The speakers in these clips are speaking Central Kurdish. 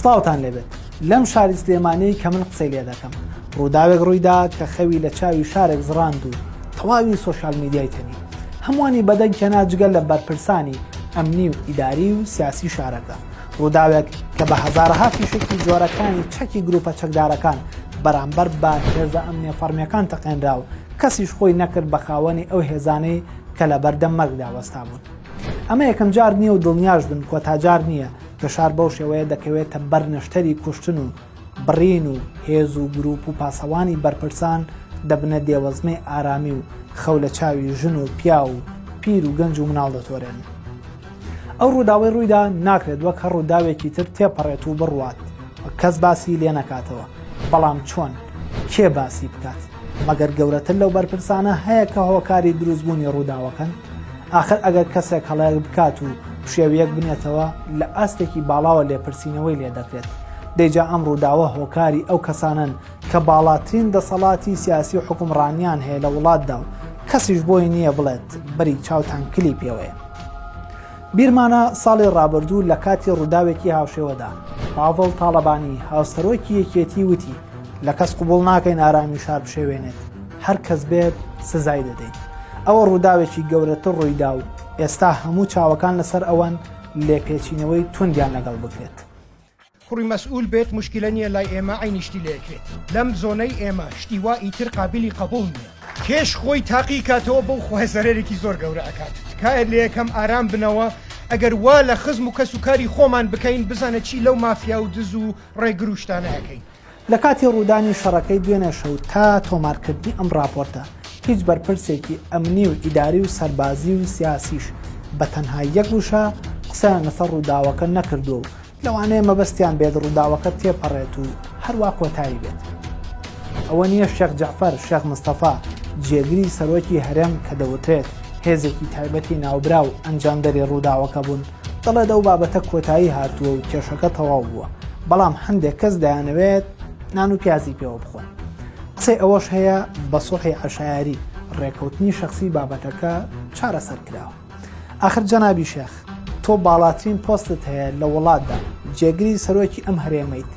سڵاوتان لێبێت لەم شاری سلێمانی کە من قسەی لێ دەکەم ڕووداوێک ڕوویدا کە خەوی لە چاوی شارێک زڕاند و تەواوی سوۆشال میدیای تەنی هەمووانی بەدەنگ کەنا جگەل لە بەرپرسانی ئەمنی و ئیداری و سیاسی شارەکە ڕووداوێک کە بە هەزارەها فیشەکی جۆرەکانی چەکی گروپە چەکدارەکان بەرامبەر بە هێزە ئەمنیە فەرمیەکان تەقێنرا و کەسیش خۆی نەکرد بە خاوەنی ئەو هێزانەی کە لە بەردەم مەرگدا وەستا بوون. ئەمە یەکەم جار نییە و دڵنیاش بن کۆتاجار نییە کە شار بەو شێوەیە دەکەوێتە بەر نەشتەری کوشتن و بڕین و هێز و گروپ و پاسەوانی بەرپرسان دەبنە دێوەزمەی ئارامی و خەو لە چاوی ژن و پیا و پیر و گەنج و مناڵ دەتۆرێن. ئەو ڕووداوەی ڕوویدا ناکرێت وەک هەر ڕووداوێکی تر تێپەڕێت و بڕوات و کەس باسی لێ نەکاتەوە، بەڵام چۆن؟ کێ باسی بکات؟ مەگەر گەورەتر لەو بەرپرسانە هەیە کە هۆکاری دروستبوونی ڕووداوەکەن؟ ئاخر ئەگەر کەسێک هەڵەیەک بکات و پشێوییەک بنێتەوە، لە ئاستێکی باڵاوە لێپرسینەوەی لێ دەکرێت، دەی جا ئەم ڕووداوە هۆکاری ئەو کەسانەن کە باڵاترین دەسەڵاتی سیاسی و حوکمڕانیان هەیە لە وڵاتدا و کەسیش بۆی نییە بڵێت بەری چاوتان کلی پێوەیە. بیرمانە ساڵی ڕابردوو لە کاتی ڕووداوێکی هاوشێوەدا پاڤڵ تاڵەبانی هاوسەرۆکی یەکێتی وتی، لە کەس قبوڵ ناکەین ئارامی شار بشێوێنێت، هەر کەس بێت سزای دەدەین. ئەوە ڕووداوێکی گەورەتر ڕوویدا و ئێستا هەموو چاوەکان لەسەر ئەوەن لێپێچینەوەی توندیان لەگەڵ بکرێت. کوڕی مەسئول بێت موشکیلە نیە لای ئێمە عەینی شتی لە یەکێت لەم زۆنەی ئێمە شتی وا ئیتر قابیلی قەبوڵ نیە. کێش خۆی تاقی کاتەوە بەو خوای زەرەرێکی زۆر گەورە ئەکات تکایە لەیەکەم ئارام بنەوە ئەگەر وا لە خزم و کەس و کاری خۆمان بکەین بزانە چی لەو مافیا و دز و ڕێگرو شتانە ئەکەین لە کاتی ڕوودانی شەڕەکەی دوێنێ شەو تا تۆمارکردنی ئەم ڕاپۆرتە، هیچ بەرپرسێکی ئەمنی و ئیداری و سەربازی و سیاسیش بە تەنها یەک وشە قسەیان لەسەر ڕووداوەکە نەکردووە و لەوانەیە مەبەستیان بێت ڕووداوەکە تێپەڕێت و هەروا کۆتایی بێت. ئەوە نییە شێخ جەعفەر شێخ مستەفا، جێگری سەرۆکی هەرێم کە دەوترێت هێزێکی تایبەتی ناوبراو ئەنجامدەری ڕووداوەکە بوون، دەڵێت ئەو بابەتە کۆتایی هاتووە و کێشەکە تەواو بووە بەڵام هەندێک کەس دەیانەوێت نان و پیازی پێوە بخۆن قسەی ئەوەش هەیە بە سوڵحی عشایری ڕێکەوتنی شخصی بابەتەکە چارەسەر کراوە آخر جەنابی شێخ تۆ باڵاترین پۆستت هەیە لە وڵاتدا جێگری سەرۆکی ئەم هەرێمەیت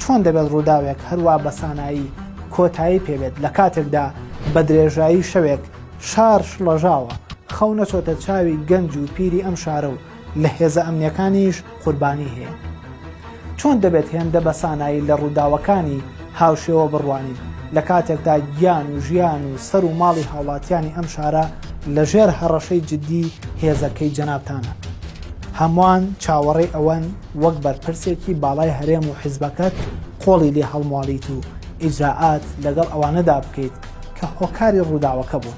چۆن دەبێت ڕووداوێک هەروە بەسانایی کۆتایی پێبێت لە کاتێکدا بە درێژایی شەوێک شار شڵەژاوە، خەونە چۆتە چاوی گەنج و پیری ئەم شارە و لە هێزە ئەمنیەکانیش قوربانی هەیە. چۆن دەبێت هێندە بە سانایی لە ڕووداوەکانی هاوشێوە بڕوانین، لە کاتێکدا گیان و ژیان و سەر و ماڵی هاوڵاتیانی ئەم شارە لە ژێر هەڕەشەی جدی هێزەکەی جەنابتانە؟ هەموان چاوەڕێی ئەوەن وەک بەرپرسێکی باڵای هەرێم و حزبەکەت قۆڵی لێ هەڵمواڵیت و ئیجرائات لەگەڵ ئەوانەدا بکەیت کە هۆکاری ڕووداوەکە بوون.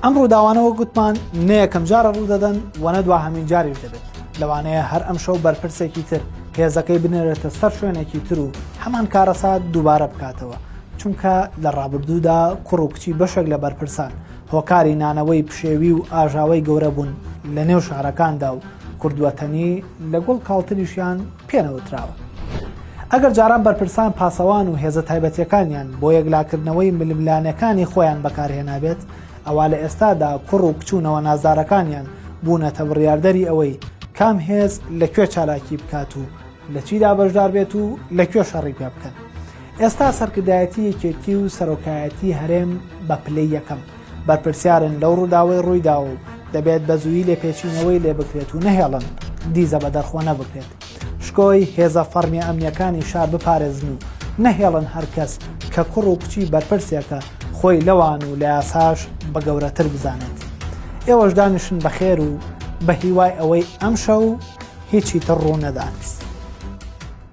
ئەم ڕووداوانەوە گوتمان نەیەکەم جارە ڕوودەدەن و نە دوا هەمین جاریش دەبێت لەوانەیە هەر ئەم شەو بەرپرسێکی تر هێزەکەی بنێرێتە سەر شوێنێکی تر و هەمان کارەسات دووبارە بکاتەوە چونکە لە ڕابردوودا کوڕ و کچی بەشێک لە بەرپرسان هۆکاری نانەوەی پشێوی و ئاژاوەی گەورە بوون لە نێو شارەکاندا و کوردوەتەنی لە گوڵ کاڵتریشیان پێنەوتراوە. ئەگەر جاران بەرپرسان پاسەوان و هێزە تایبەتیەکانیان بۆ یەکلاکردنەوەی ململانێکانی خۆیان بەکارهێنابێت، ئەوا لە ئێستادا کوڕ و کچ و نەوە نازدارەکانیان بوونەتە بڕیاردەری ئەوەی کام هێز لە کوێ چالاکی بکات و لە چیدا بەشداربێت و لە کوێ شەڕی پێبکەن. ئێستا سەرکردایەتی یەکێتی و سەرۆکایەتی هەرێم بە پلەی یەکەم. بەرپرسیارن لەو ڕووداوەی ڕوویدا و دەبێت بە زووی لێپێچینەوەی لێ بکرێت و نەهێڵن دیزە بە دەرخۆ نەبکرێت شکۆی هێزە فەرمیە ئەمنیەکانی شار بپارێزن و نەهێڵن هەرکەس کە کوڕ و کچی بەرپرسێکە خۆی لەوان و لە یاساش بە گەورەتر بزانێت ئێوەش دانیشن بەخێر و بە هیوای ئەوەی ئەمشە و هیچی تر ڕوو نەدانست